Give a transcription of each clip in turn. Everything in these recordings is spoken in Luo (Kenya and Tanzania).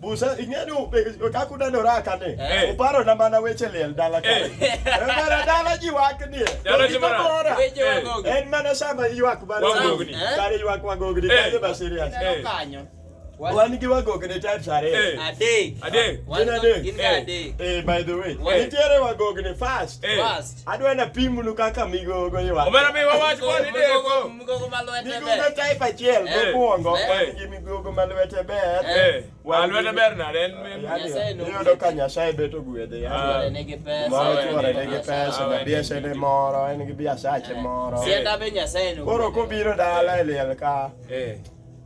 Busa ing'eyo kaka uneno raka ni eh. uparo na mana weche liel dala ka. Eh. Eh, mana dala ji wak ni. Dala ji mana. Weche wagogni. En mana sama ywak mana wagogni. Kare ywak wagogni kare ba serious. Kanyo. Wan gi wagogni types ariyo. Adek. Adek. Wan adek. Gin adek. Eh by the way. Nitiere wagogni fast. Fast. Adwa na pimnu kaka migogo ywa. Omera mi wawach kwa ni deko. Migogo ma lwete ber. Migogo type achiel eh, mokwongo eh. gi migogo ma lwete ber. Eh. Wa lwete ber na den mi. Nyasaye no. Yodo ka Nyasaye beto gwedhe ya. Ah. Tuore ne gi pesa. Moro tuore ne gi pesa. Na biasha ne moro, en gi biasha che moro. Sienda be Nyasaye no. Koro kobiro dala e liel ka. Eh.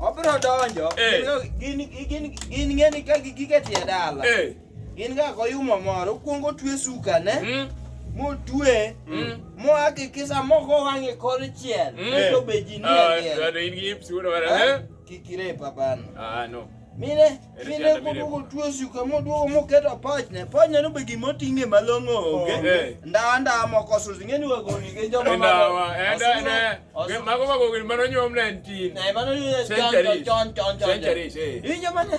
Obiro donjo. Eh. Gin gin gin ng'eni ka gigike tie dala. Eh. Gin ga koyumo moro kuongo twe suka ne. Mm. Motwe. Mm. Mo akikisa moko wang'e kor chiel. Mm. Eh. To be ji ni. Ah, in gi ipsi wala. Kikire papa no. Ah no. Mire. Kinde kudugo tuo suka moduogo moketo pachne, pachne no be gima oting'e malong'o onge. Oh, eh. Ndawa ndawa moko susi ng'eni wagoni gi joma ndawa. Eh, mago wagoni mano nyuom na entin. Ne eh, mano nyuom chon chon chon chon. Centuries. Injo mane?